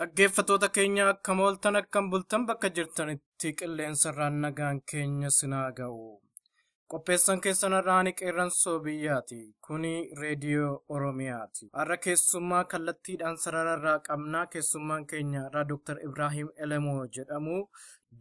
Dhaggeeffattoota keenya akkam ooltan akkam bultan bakka jirtanitti qilleensarraan nagaan keenya sinaa ga'u. Qopheessan keessan har'aani qeerransoo biyyaati. Kuni reediyoo Oromiyaati. Har'a keessummaa kallattiidhaan sarararraa qabnaa keessummaan keenya har'aa Dr. Ibraahiim Elemoo jedhamu.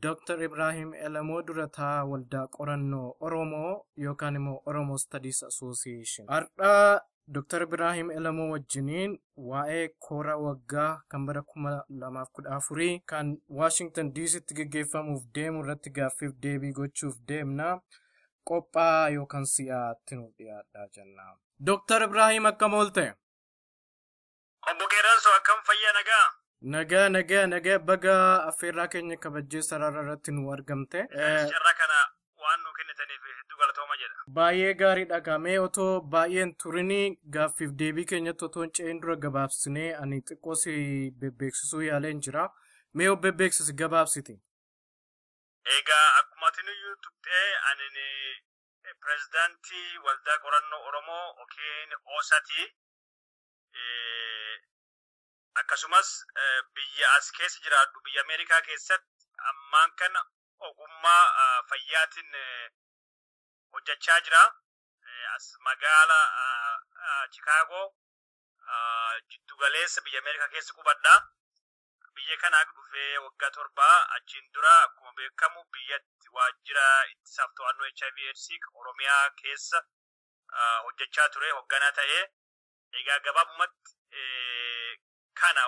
Dr. Ibraahiim Elemoo dura taa waldaa qorannoo Oromoo yookaan immoo Oromoo Studies Association. Har'a Dr. Ibraahim Elamoo wajjiniin waa'ee koora waggaa kan bara 2014 kan Waashingtan Diisitti geggeeffamuuf deemu irratti gaaffiif deebii gochuuf deemna. Qophaa yookaan si'aatti nuuf dhiyaadhaa jenna. Dr. Ibraahim akkam oolte? Obbo Qeerranso akkam fayyaa nagaa? Nagaa nagaa nagaa baga affeerraa keenya kabajjee sarara irratti nu argamte. Eh, Carraa kana waan nu kennitaniif hedduu galatooma jedha. Baay'ee gaariidha gaamee otoo baay'een turinii gaaffiif deebii keenyatti otoo hin ce'in dura gabaabsinee ani xiqqoo si bebbeeksisuu yaaleen jira. Mee of bebbeeksisi gabaabsiti. Egaa akkuma tiniyyuu tuqxee ani pirezidaantii waldaa qorannoo Oromoo yookiin OSATI akkasumas biyya as keessa jiraadhu biyya Ameerikaa keessatti ammaan kana ogummaa fayyaatiin hojjechaa jira. As magaala Chikaagoo jiddugaleessa biyya Ameerikaa keessa qubadha. Biyya kanaa dhufee waggaa torba achiin dura akkuma beekamu biyyatti waajjira ittisaaf to'annoo HIV AIDS Oromiyaa keessa hojjechaa ture hogganaa ta'ee Egaa gabaabumatti kana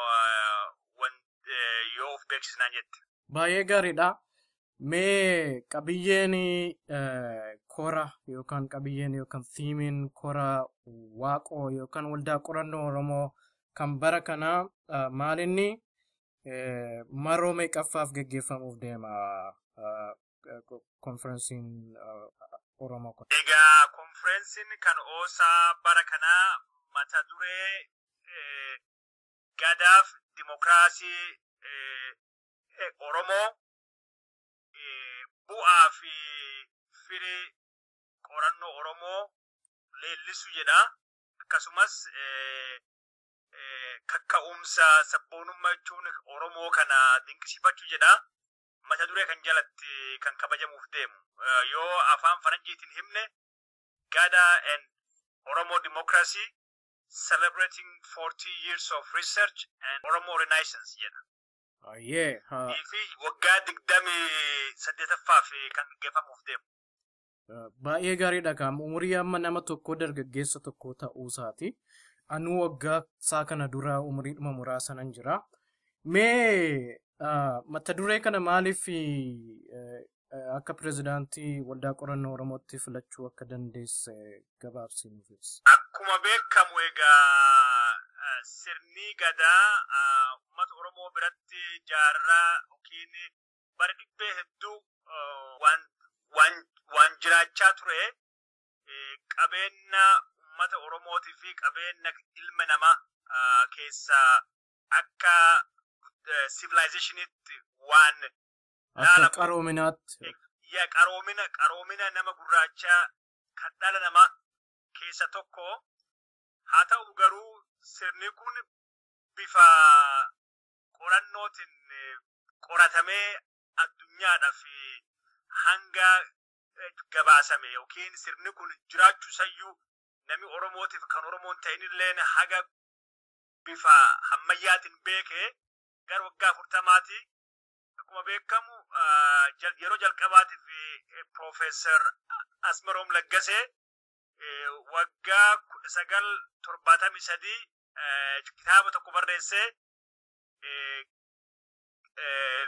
yoo of beeksisnaan jette. Baay'ee gaariidha. Mee qabiyyeen kora yookaan qabiyyeen yookaan fiimiin kora waaqoo yookaan waldaa qorannoo Oromoo kan bara kanaa maalinni maroo meeqaffaaf geggeeffamuuf deema? konferensiin Oromoo kun. Egaa konferensiin kan oosaa bara kanaa mata duree gadaaf dimokiraasii Oromoo bu'aa fi firii qorannoo Oromoo leellisu jedha. Akkasumas kakka'umsa sabboonummaa jechuun Oromoo kana dinqisiifachuu jedha. mata duree kan jalatti kan kabajamuuf deemu yoo afaan faranjiitiin himne gada and oromo democracy celebrating 40 years of research and oromo renaissance jedha Ayyee. ha. fi waggaa digdamii saddeetaffaa fi kan geeffamuuf deemu Baay'ee gaariidha kaam umurii amma nama tokkoo dargaggeessa tokkoo ta'uu isaati. Anuu waggaa isaa kana dura umuriidhuma muraasanan jira. Mee ah, mata duree kana maaliif eh, eh, akka pirezidaantii waldaa qorannoo Oromootti filachuu akka dandeesse gabaabsii nuuf ibsi. Akkuma beekamu egaa eh, sirni gadaa eh, uummata Oromoo biratti jaarraa yookiin bara dhibbee hedduu waan waan waan jiraachaa ture qabeenna ummata Oromootii fi qabeenna ilma namaa keessa akka sivilaayizeeshiniitti waan akka qaroominaatti yaa qaroomina qaroomina nama gurraachaa kan dhala namaa keessa tokko haa ta'u garuu sirni kun bifa qorannootiin qoratamee addunyaadhaaf hanga gabaasame yookiin sirni kun jiraachuu sayyuu nami Oromootiif kan Oromoon ta'inilleen haga bifa hammayyaatiin beekee gara waggaa afurtamaati akkuma beekamu yeroo jalqabaatiif Piroofeesar Asmaroom Laggasee waggaa kudha sagal torbaatamii sadii kitaaba tokko barreessee uh, uh,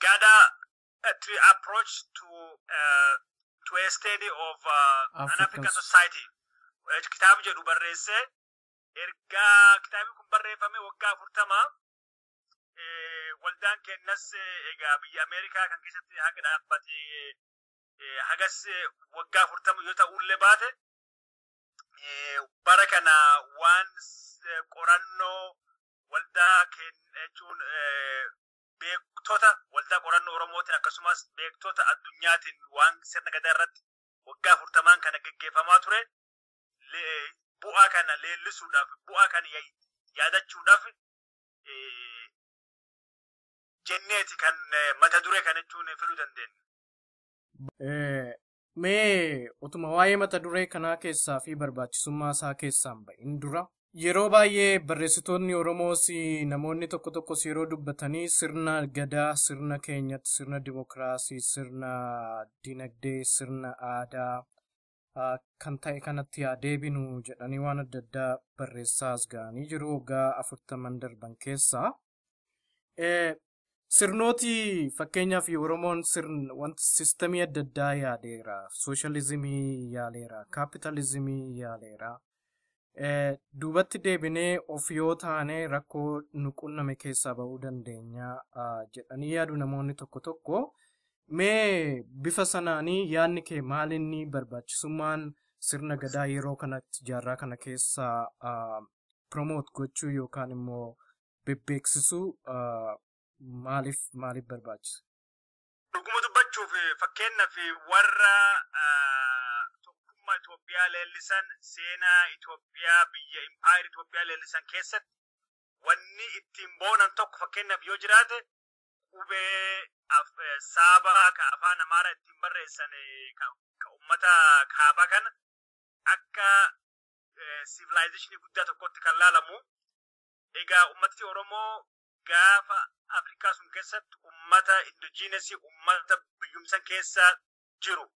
gather uh, to approach to uh, to a study of uh, an African African society. Eh, Kitaaba jedhu barreessee erga kitaabni kun barreeffame waggaa afurtama eh, waldaan kennas eh, egaa biyya Ameerikaa kan keessatti haga dhaabbate eh, hagas eh, waggaa afurtama yoo ta'ullee baate eh, bara kana waan s- eh, qorannoo waldaa keenya jechuun eh, beektota waldaa qorannoo Oromootiin akkasumas beektota addunyaatiin waan sirna gadaa irratti waggaa afurtamaan kana geggeeffamaa ture le- bu'aa kana leellisuudhaaf bu'aa kana ya- yaadachuudhaaf eh, jenneeti kan eh, mata duree kana jechuun filuu dandeenya. Eh, Mee otuma waa'ee mata duree kanaa keessaa fi barbaachisummaa isaa keessaan ba'in dura yeroo baay'ee barreessitoonni Oromoos namoonni tokko tokkos yeroo dubbatanii sirna gadaa, sirna keenyatti, sirna dimokiraasii, sirna dinagdee, sirna aadaa ah, kan ta'e kanatti yaa deebinu jedhanii waan adda addaa barreessaa as ga'anii jiru waggaa afurtaman darban keessaa. Sirnooti fakkeenyaaf Oromoon sirna wanta sistamii adda addaa yaadeera. Sooshaalizimii yaaleera. Kaapitaalizimii yaaleera. Duubatti deebinee of yoo taane rakkoo nu qunname keessaa ba'uu dandeenya jedhanii yaadu namoonni tokko tokko. Mee bifa sanaanii yaadni kee maalinni barbaachisummaan sirna gadaa yeroo kanatti jaarraa kana keessaa promote gochuu yookaan immoo bebbeeksisuu ah, maaliif maaliif barbaachisa? Dhuguma dubbachuuf fakkeenyaaf warra ah, tokkummaa Itoophiyaa leellisan seenaa Itoophiyaa biyya impaayera Itoophiyaa leellisan keessatti wanni ittiin boonan tokko fakkeenyaaf yoo jiraate qubee af- eh, saabaa ka afaan amaaraa ittiin barreessan eh, ka ka ummata kaabaa kana akka sivilaayizeeshinii guddaa tokkotti kan laalamu. Egaa uummatni Oromoo gaafa Afrikaa sun keessatti uummata indojiinesii uummata biyyumsan keessa jiru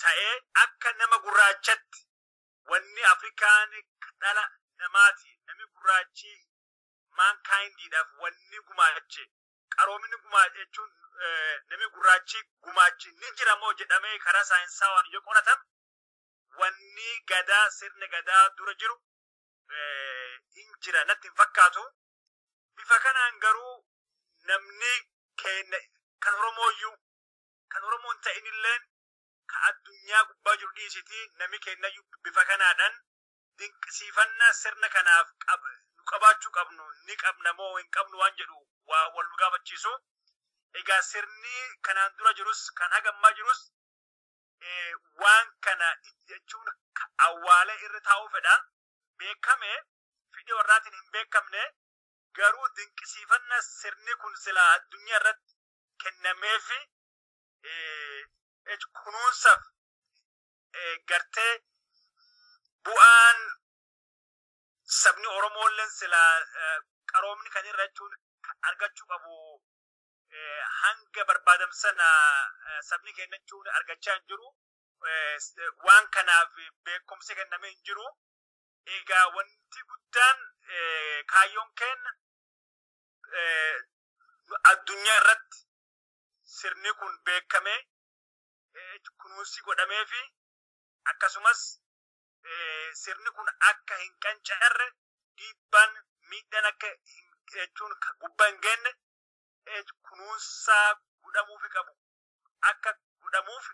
ta'ee akka nama gurraachatti wanni Afrikaan dhala namaati namni gurraachi maankaayindiidhaaf wanni gumaache qaroominni gumaache jechuun namni gurraachi gumaachi ni jiramoo jedhamee karaa saayinsaawaan yoo qoratamu wanni gadaa sirna gadaa dura jiru hin jira natti hin fakkaatu. Bifa kanaan garuu namni keenya kan Oromooyyuu kan Oromoo hin ta'inilleen ka addunyaa gubbaa jiru dhiisitii nami keenyayyuu bifa kanaadhaan dinqisiifannaa sirna kanaaf nu qabaachuu qabnu ni qabna moo hin qabnu waan jedhu waa wal nu gaafachiisu. Egaa sirni kanaan dura jirus kan hagammaa jirus eh, waan kana itti jechuun ka- awwaalee irra taa'uu fedha beekame fedhii warraatiin hin beekamne garuu dinqisiifanna sirni kun silaa addunyaa irratti kennameefi eh, jech- kunuunsaaf eh, gartee bu'aan sabni Oromoolleen silaa eh, qaroomni kan irra jechuun ka- argachuu qabu hanga barbaadamu sana sabni kennachuun argachaa hin jiru. Waan kanaaf beekumsi kennamee hin jiru. Egaa wanti guddaan kaayyoon keenya addunyaa irratti sirni kun beekamee kunuunsi godhamee fi akkasumas sirni kun akka hin qancarre dhiibbaan miidhaan akka jechuun gubbaa hin geenye H kunuunsaa godhamuufi qabu akka godhamuuf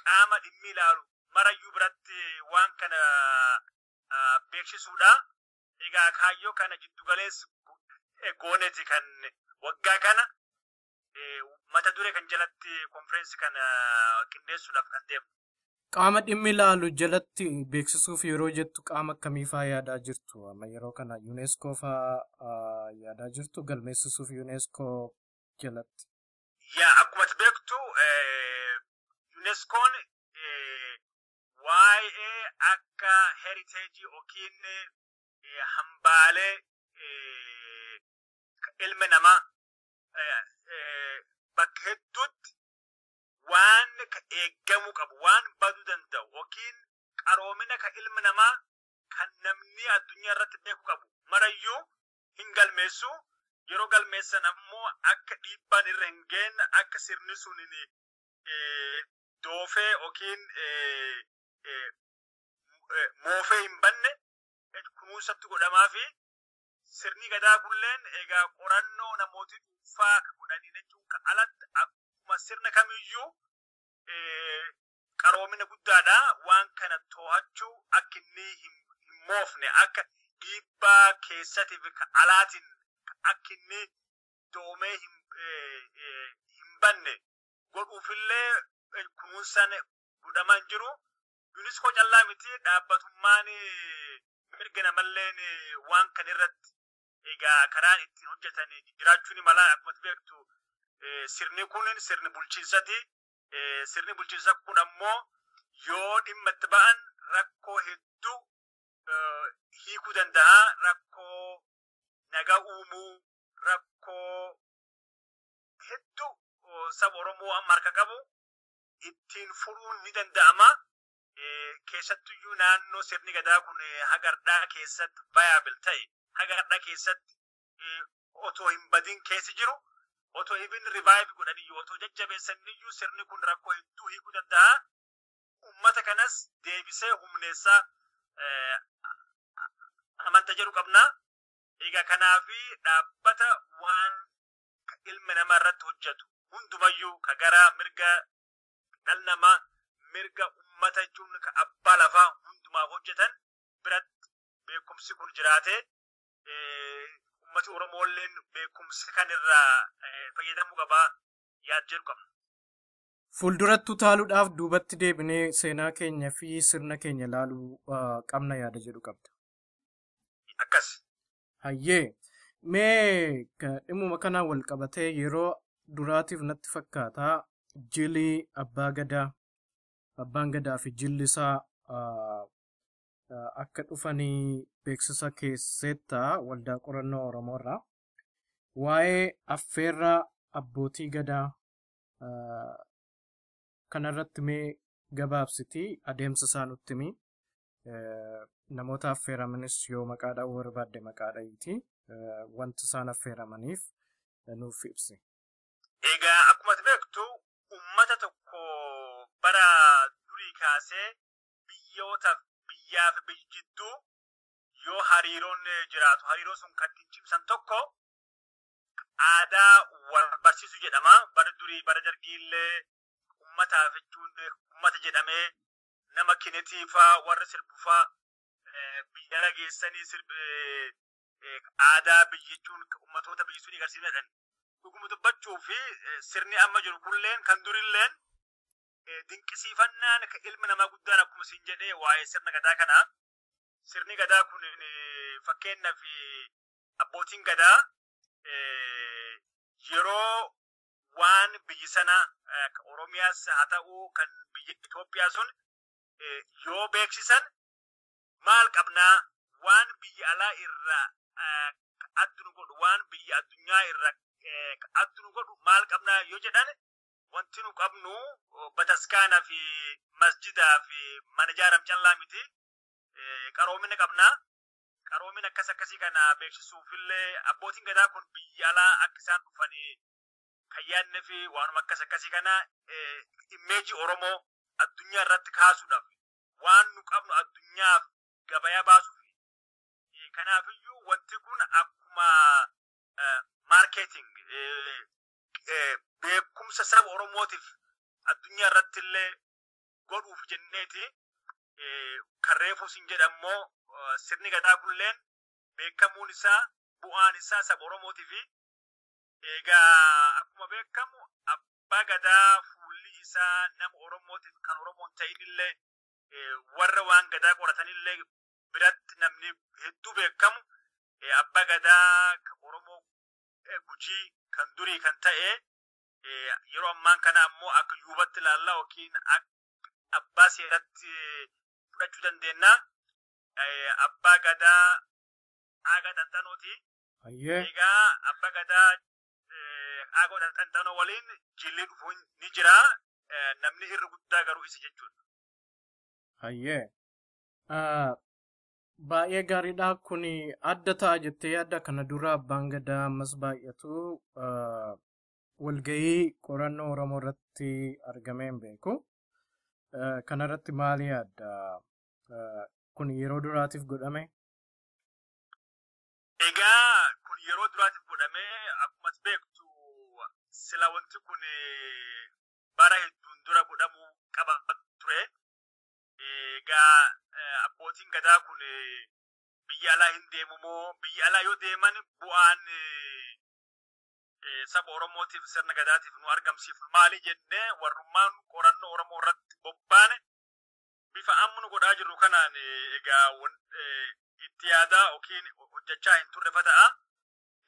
qaama dhimmi ilaalu marayyuu biratti waan kana beeksisuudha. Egaa kaayyoo kana giddu galeessi gooneeti kan waggaa kana mata duree kan jalatti konfireensi kana qindeessuudhaaf kan deemu. Qaama dhimmi ilaalu jalatti beeksisuuf yeroo jettu qaama akkamii faa yaadaa jirtu? Amma yeroo kana UNESCO faa ah, yaadaa jirtu galmeessisuuf UNESCO jalatti. Yaa akkuma ati beektu eh, UNESCOon eh, waa'ee akka heritage yookiin eh, hambaalee eh, ilmi namaa eh, eh, bakka hedduutti waan ka eeggamuu qabu waan baduu danda'u yookiin qaroomina ka ilmi namaa kan namni addunyaa irratti beeku qabu marayyuu hin galmeessu yeroo galmeessan ammoo akka dhiibbaan irra hin geenye akka sirni sun hin eh, doofee yookiin eh, eh, eh, moofee hin banne eh, kunuunsatti godhamaa fi Sirni Gadaa kunilleen egaa qorannoo namooti dhuunfaa ka godhanii jechuun ka alatti akkuma sirna kamiyyuu qaroomina guddaadha. Waan kana too'achuu akka inni hin moofne akka dhiibbaa keessatiif ka alaatiin akka inni doomee hin banne godhuufillee kunuunsaan godhamaa hin jiru. Yuuniskoo callaa miti dhaabbatummaan mirga namalleen waan kan irratti egaa karaan ittiin hojjetan jiraachuu ni mala akkuma beektu sirni kun sirni bulchiinsati. Sirni bulchiinsa kun ammoo yoo dhimma itti ba'an rakkoo hedduu hiikuu danda'a. Rakkoo nagaa uumuu, rakkoo hedduu saba Oromoo amma harka qabu ittiin furuun ni danda'ama. Keessattuyyuu naannoo sirni gadaa kun hagardhaa keessatti viable ta'e hagardhaa keessatti otoo hin badin keessa jiru otoo even revive godhaniyyuu otoo jajjabeessaniyyuu sirni kun rakkoo hedduu hiikuu danda'a. Uummata kanas deebisee humneessaa amanta jedhu qabna. Egaa kanaaf dhaabbata waan ka ilmi nama irratti hojjatu hundumayyuu ka gara mirga dhal namaa mirga ummata jechuun ka abbaa lafaa hundumaaf hojjetan biratti beekumsi kun jiraate ummati oromoolleen beekumsa kan irraa fayyadamuu qabaa yaad jedhu qabna. Fuulduratti utaaluudhaaf duubatti deebinee seenaa keenya fi sirna keenya ilaaluu qabna yaada jedhu qabda. Akkas Hayyee mee ka- dhimmuma kanaan wal qabatee yeroo duraatiif natti fakkaata jili abbaa gadaa abbaan gadaa fi jilli isaa ah, ah, akka dhufanii beeksisa keesseetta waldaa qorannoo Oromoo irraa waa'ee affeerraa abbootii gadaa ah, kanarratti mee gabaabsitii adeemsa isaa nutti himi. namoota affeeramanis yoo maqaa dha'uu barbaadde maqaa dha'iiti wanti isaan affeeramaniif nuuf ibsi. Egaa akkuma beektu uummata tokko bara durii kaasee biyyoota biyyaa fi biyyi jidduu yoo hariiroon jiraatu hariiroo sun kan ittiin cimsan tokko aadaa wal barsiisu jedhama. Bara durii bara dargiillee uummataaf jechuun uummata jedhamee nama kinetii faa warra sirbu faa biyyara geessanii sirbi aadaa biyyichuun ummatoota biyyi sun agarsiifnedhan. Dhuguma dubbachuu fi sirni amma jiru kunilleen kan durilleen dinqisiifannaan ilmi namaa guddaan akkuma siin jedhee waa'ee sirna gadaa kanaa sirni gadaa kun fakkeenyaaf abbootiin gadaa yeroo waan biyyi sana Oromiyaas haa ta'u kan biyya Itoophiyaa sun yoo beeksisan maal qabnaa waan biyya alaa irraa addu nu godhu waan biyya addunyaa irraa addu nu godhu maal qabnaa yoo jedhan wanti nu qabnu bataskaana fi masjidaa fi mana ijaaram callaa miti qaroomina qabnaa qaroomin akkas akkasii kana beeksisuuf illee abbootiin gadaa kun biyya alaa akka isaan dhufanii kan yaadne fi waanuma akkas akkasii kana immeeji Oromoo addunyaa irratti kaasuudhaaf waan nu qabnu addunyaaf gabayaa baasuuf kanaafiyyuu wanti kun akkuma maarkeeting beekumsa saba Oromootiif addunyaa irratti illee godhuuf jenneeti eh, kan reefuu sin jedhammoo eh, sirni gadaa kulleen beekamuun isaa bu'aan isaa saba oromootii fi egaa akkuma beekamu abbaa gadaa fuulli isaa nama oromootiif kan oromoon ta'inillee eh, warra waan gadaa qoratanillee biratti namni hedduu beekamu eh, abbaa gadaa kan oromoo eh, gujii kan durii kan ta'e Yeroo ammaan kana ammoo akka yuubatti ilaalla yookiin abbaa seeratti fudhachuu dandeenya. Abbaa gadaa aagaa xanxanooti. Egaa abbaa gadaa aagaa xanxanoo waliin jilli dhufuun ni jira. Namni irra guddaa garuu isa jechuudha. Hayyee. Baay'ee gaariidha. Kun adda ta'a jettee yaadda kana dura abbaan gadaa ammas baay'atu walga'ii qorannoo Oromoo irratti argamee hin beeku. Eh, Kanarratti maal yaadda? Eh, Kun yeroo duraatiif godhame? Egaa kun yeroo duraatiif godhamee akkuma ati beektu sila wanti kun eh, bara hedduun dura godhamuu qaba ture. Egaa eh, abbootiin gadaa kun eh, biyya alaa hin deemu moo biyya alaa yoo deeman bu'aan eh, saba Oromootiif sirna gadaatiif nu argamsiifnu maali jennee warrummaan qorannoo Oromoo irratti bobbaane bifa amma nu godhaa jirru kanaan egaa itti yaadaa yookiin hojjechaa hin turre fata'a.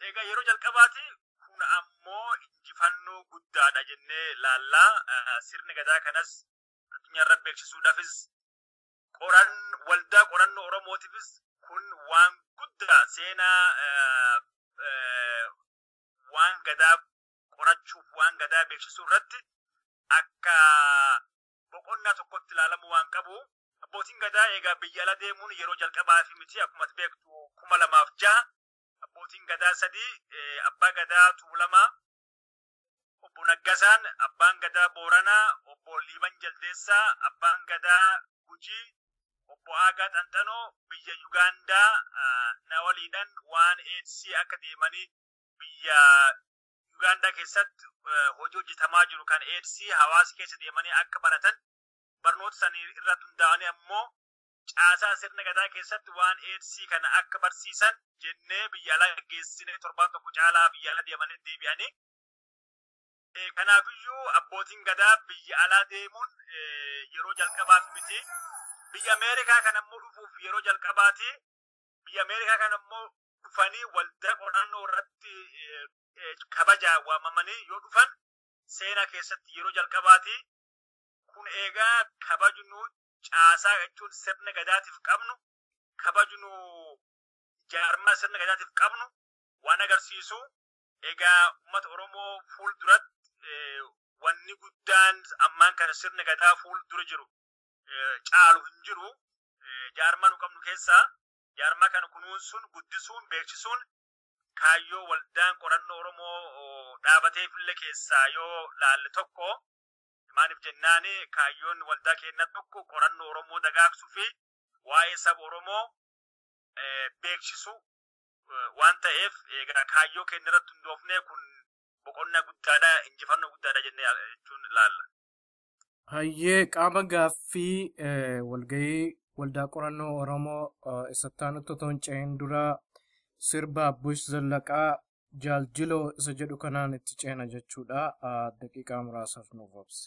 Egaa yeroo jalqabaati kun ammoo injifannoo guddaadha jennee laallaa sirni gadaa kanas addunyaarra beeksisuudhaafis qoran waldaa qorannoo Oromootiifis kun waan guddaa seenaa eh, eh, waan gadaa qorachuuf waan gadaa beeksisuu irratti akka boqonnaa tokkotti ilaalamuu waan qabu abbootiin gadaa egaa biyya ala deemuun yeroo jalqabaa fi miti akkuma ati beektu kuma lamaaf jaha abbootiin gadaa sadii eh, abbaa gadaa tuulamaa Obbo Naggasaan Abbaan Gadaa Booranaa, Obbo Liiban Jaldeessaa Abbaan Gadaa Gujii, Obbo Aagaa Xanxanoo biyya Yugaandaa na waliidhan waan aids akka deemanii biyya Yugaandaa keessatti hojii hojjetamaa jiru kan aids hawaasa keessa deemanii akka baratan barnoota sanii irratti hundaa'anii ammoo caasaa sirna gadaa keessatti waan eedsii kana akka barsiisan jennee biyya alaa geessinee torbaan tokko caalaa biyya alaa deemanii deebi'anii kanaafiyyuu abbootiin gadaa biyya alaa deemuun yeroo jalqabaaf miti biyya ameerikaa kan ammoo dhufuuf yeroo jalqabaati biyya ameerikaa kan ammoo dhufanii waldaa qorannoo irratti kabajaa waamamanii yoo dhufan seenaa keessatti yeroo jalqabaati kun eegaa kabajnu caasaa jechuun sirna gadaatiif qabnu kabajnu jaarmaa sirna gadaatiif qabnu waan agarsiisu egaa uummata Oromoo fuul duratti wanni guddaan ammaan kana sirna gadaa fuul dura jiru caalu hin jiru jaarmaa nu qabnu keessaa jaarmaa kana kunuunsuun guddisuun beeksisuun kaayyoo waldaan qorannoo Oromoo dhaabateefillee keessaa yoo laalle tokko Maaliif jennaan kaayyoon waldaa keennaa tokko qorannoo Oromoo dagaagsuu fi waa'ee saba Oromoo beeksisuu waan ta'eef egaa kaayyoo keenya irratti hundoofnee kun boqonnaa guddaadha, injifannoo guddaadha jennee jechuun ilaalla. Hayyee qaama gaaffii walgahii waldaa qorannoo Oromoo isatti aanutti otoo hin ce'in dura sirba Abbush Zallaqaa Jaal Jiloo isa jedhu kanaan itti ceena jechuudha. Daqiiqaa muraasaaf nuuf obsi.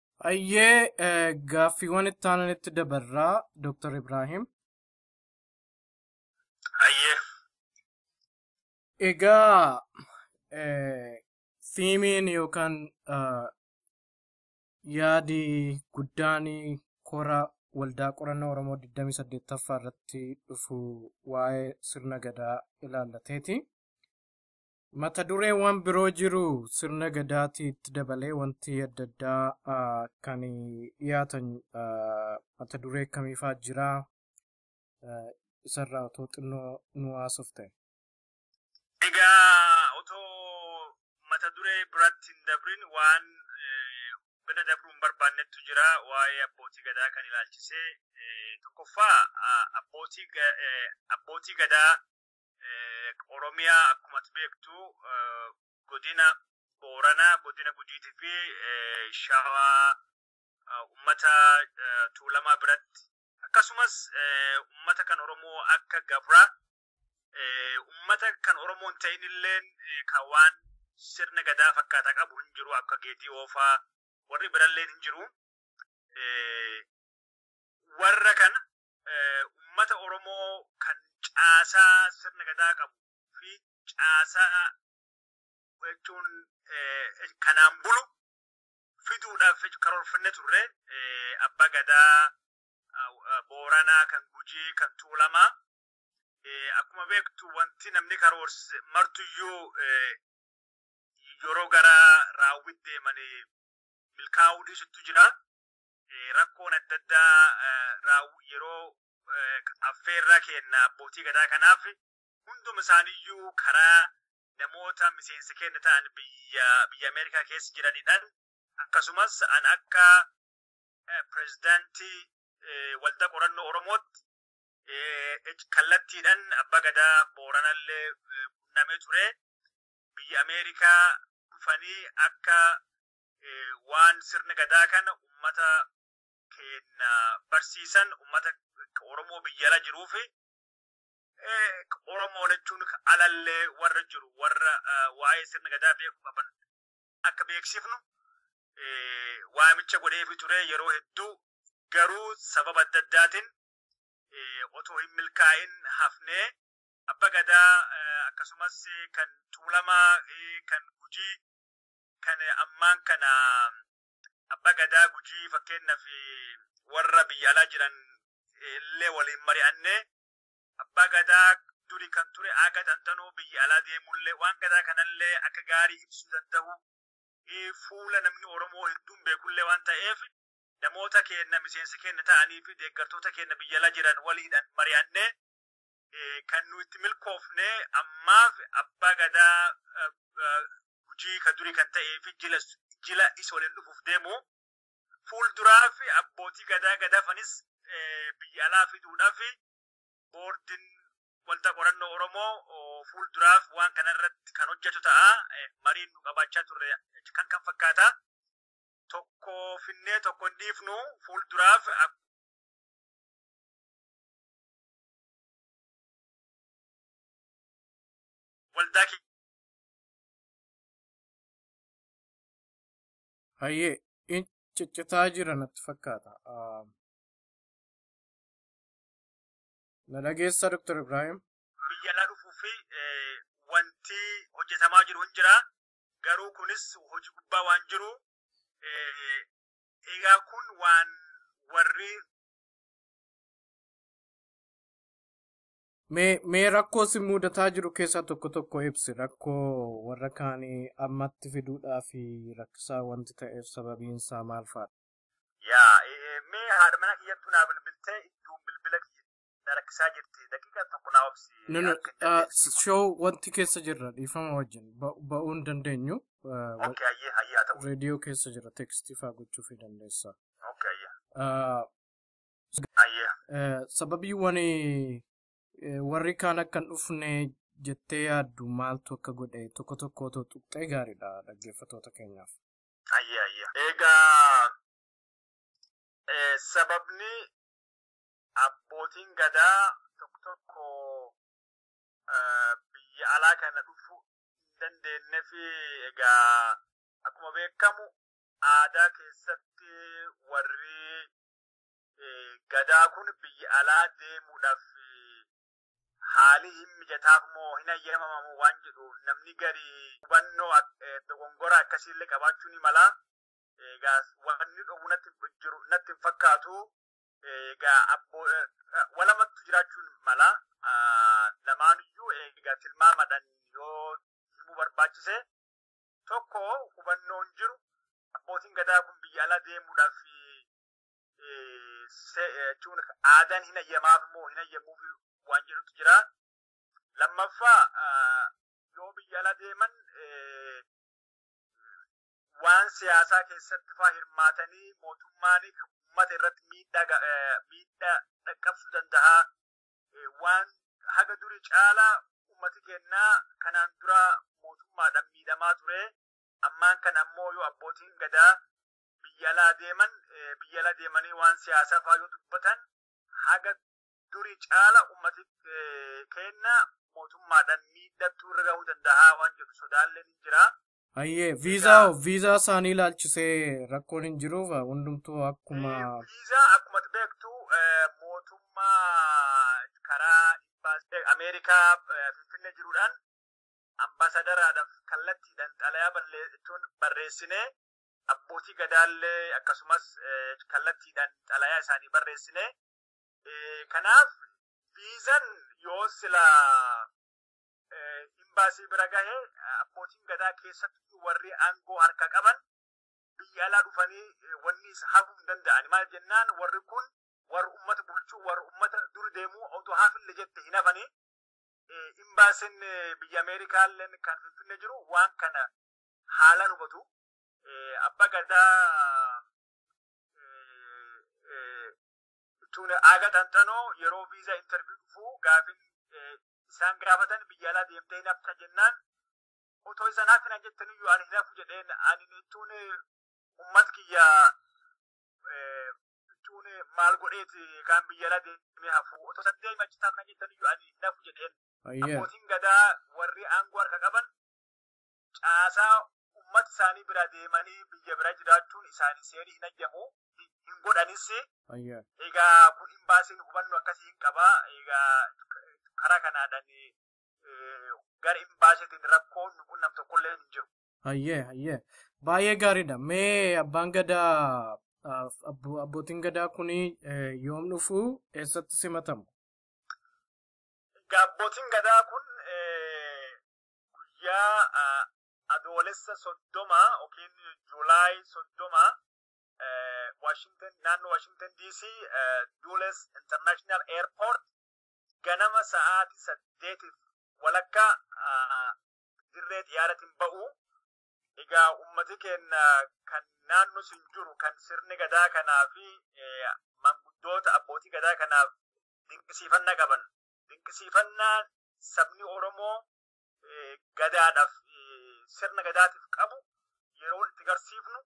Ayyee gaaffiiwwan itti aananitti dabarraa Dr. Ibrahim. Ayyee. Egaa fiimiin yookaan yaadi guddaan kora waldaa qorannoo Oromoo 28ffaa irratti dhufu waa'ee sirna gadaa ilaallateeti. Mata dureewwan biroo jiru sirna gadaatii itti dabalee wanti adda addaa ah, kan dhiyaatan ah, mata duree akkamiifaa jira Ah, isarraa otoo xinnoo nu haasofte. Egaa otoo mata duree biratti hin dabrin waan eh, bira dabruu hin barbaannettu jira waa'ee abbootii gadaa kan ilaalchisee eh, tokkoffaa ah, abbootii ga- eh, abbootii gadaa Oromiyaa akkuma ati beektu godina Booranaa, godina Gujiitii fi Shawaa ummata Tuulamaa biratti akkasumas ummata kan Oromoo akka Gabraa ummata kan Oromoo hin ta'in illeen kan waan sirna gadaa fakkaataa qabu hin jiru akka geetii oofaa warri biralleen hin jiru. Warra kana ummata Oromoo kan caasaa sirna gadaa qabu fi caasaa jechuun kanaan bulu fiduudhaaf karoorfannee turre abbaa gadaa booranaa kan gujii kan tuulamaa akkuma beektu wanti namni karoorse martuyyuu yeroo gara raawwitti deemanii milkaa'uu dhiisutu jira. rakkoon adda addaa yeroo affeerraa keenna abbootii gadaa kanaaf hunduma isaaniiyyuu karaa namoota miseensa keenya ta'an biyya biyya Ameerikaa keessa jiranidhaan akkasumas an akka pirezidaantii waldaa qorannoo Oromootti kallattiidhaan abbaa gadaa booranallee qunnamee ture biyya Ameerikaa dhufanii akka waan sirna gadaa kana ummata keenya barsiisan ummata Oromoo biyya ala jiruu fi Oromoo jechuun alallee warra jiru warra waa'ee sirna gadaa beeku qaban akka beeksifnu waamicha godheefi ture yeroo hedduu garuu sababa adda addaatiin otoo hin milkaa'in hafnee abba gadaa akkasumas kan tuulamaa kan gujii kan ammaan kana abba gadaa gujii fakkeenyaaf warra biyya alaa jiran illee waliin mari'annee abbaa gadaa duri kan ture aaga xanxanoo biyya alaa deemullee waan gadaa kanallee akka gaarii ibsuu danda'u eh, fuula namni Oromoo hedduun beekullee waan ta'eef namoota keenya miseensa keenya ta'anii fi deeggartoota keenya biyya alaa jiran waliidhaan mari'annee eh, kan nu itti milkoofne ammaaf abbaa gadaa eh, eh, gujii kan durii kan ta'ee fi jila jila isa waliin dhufuuf deemu fuulduraa fi abbootii gadaa gadaafanis eh, biyya alaa fiduudhaa fi boordiin wanta qorannoo Oromoo oh, fuulduraaf waan kanarratti kan hojjetu ta'a. Eh, Mariin nu qabaachaa turre kan kan fakkaata. Tokko finnee tokko hin dhiifnu fuulduraaf ak- waldaa kee Hayyee in ciccitaa jira natti fakkaata. Ah, Na dhageessa Dr. Ibrahim? biyya alaa dhufuu fi eh, wanti hojjetamaa jiru hin jira. Garuu kunis hojii gubbaa waan jiru. eh, Egaa kun waan warri Mee mee rakkoo si mudataa jiru keessaa tokko tokko ibsi rakkoo warra kaanii ammatti fiduudhaa fi rakkisaa wanti ta'eef sababiin isaa maal faadha? Yaa e, e, mee haadha mana kiyyattuu naa bilbiltee idduun bilbila kiyya na rakkisaa jirti daqiiqa tokko naa obsi No, no, akka itti ah, adeemsisu. show wanti keessa jirra dhiifama wajjin ba- ba'uu hin dandeenyu. ah, wa- Okay, ayyee ayyee haa ta'u. Reediyoo keessa jira tekstii faa gochuufii dandeessa. Okay, ayyee. Ah, Ayyee. Eh, Sababii wani eh, warri kaan akka hin dhufne jettee yaaddu maaltu akka godhe tokko tokko otoo tuqxee gaariidha dhaggeeffatoota keenyaaf. Ayyee ayyee. Egaa eh, sababni abbootiin gadaa tokko tokko eh, biyya alaa kana dhufuu hin dandeenye fi egaa akkuma beekamu aadaa keessatti warri Gadaa kun biyya alaa deemuudhaaf haalii hin mijataaf moo hin hayyamamamu waan jedhu namni gari hubannoo dogongora akkasiillee qabaachuu ni mala. Egaa wanni dhowwu natti jiru natti hin fakkaatu. Egaa abboo walamattu jiraachuun mala. Lamaaniyyuu egaa tilmaamadhaan yoo himuu barbaachise Tokko hubannoon jiru abbootiin gadaa kun biyya alaa deemuudhaaf jechuun aadaan hin hayyamaaf moo hin hayyamuuf waan jedhutu jira. Lammaffaa yoo biyya alaa deeman waan siyaasaa keessatti faa hirmaatanii mootummaan uummata irratti miidhaa dhaqqabsuu danda'a. waan haga duri caala ummati keenna kanaan dura mootummaadhaan miidhamaa ture ammaan kana ammoo yoo abbootiin gadaa biyya alaa deeman biyya ala deemanii waan siyaasaa faa yoo dubbatan haga duri caala ummati keenna mootummaadhaan miidhattuu irra gahuu dandahaa waan jedhu sodaalleen hin jira. Ayyee viizaa hoo viizaa isaanii ilaalchisee rakkoon hin jiruuf hundumtuu akkuma Viizaa akkuma beektu eh, mootummaa karaa imbaasii Ameerikaa eh, Finfinnee jiruudhaan ambasadaraadhaaf kallattiidhaan xalayaa balleessuun barreessinee abbootii gadaallee akkasumas eh, kallattiidhaan xalayaa isaanii barreessinee Eh, kanaaf viizan yoo sila imbaasii bira gahe abbootiin gadaa keessatti warri aangoo harka qaban biyya alaa dhufanii wanni isa hafuu hin danda'ani maal jennaan warri kun warra ummata bulchuu warra ummata dur deemuu otoo hafille jette hin hafanii imbaasin biyya ameerikaalleen kan finfinne jiru waan kana haalaan hubatu abba gadaa jechuun aaga xanxanoo yeroo viizaa intarviyu dhufuu gaafin isaan gaafatan biyya alaa deemtee hin hafta jennaan otoo isaan hafina jettan iyyuu ani hin hafu jedheen ani jechuun ummat kiyya jechuun maal godheeti kaan biyya alaa deemee hafu otoo isaan deemee achi taafna jettan iyyuu ani hin hafu jedheen abbootiin gadaa warri aangoo harka qaban caasaa ummata isaanii bira deemanii biyya bira jiraachuun isaanii seerii hin hayyamu hin godhanis. Egaa kun imbaasiin hubannoo akkasii hin qaba. Egaa karaa kanaadhaan gara imbaasiitiin rakkoon nu qunnam tokkollee hin jiru. Hayyee hayyee baay'ee gaariidha. Mee abbaan gadaa abbootiin gadaa kun yoom dhufu eessatti simatamu? Egaa abbootiin gadaa kun guyyaa adoolessa soddoma yookiin juulaay soddoma Washington naannoo Washington DC Dulles International Airport ganama sa'aatii saddeetiif walakkaa dirree xiyaaratiin ba'u. Egaa ummati keenya kan naannoo sin jiru kan sirni gadaa kanaa fi manguddoota abbootii gadaa kanaaf dinqisiifannaa qaban dinqisiifannaa sabni Oromoo gadaadhaaf sirna gadaatiif qabu yeroo itti garsiifnu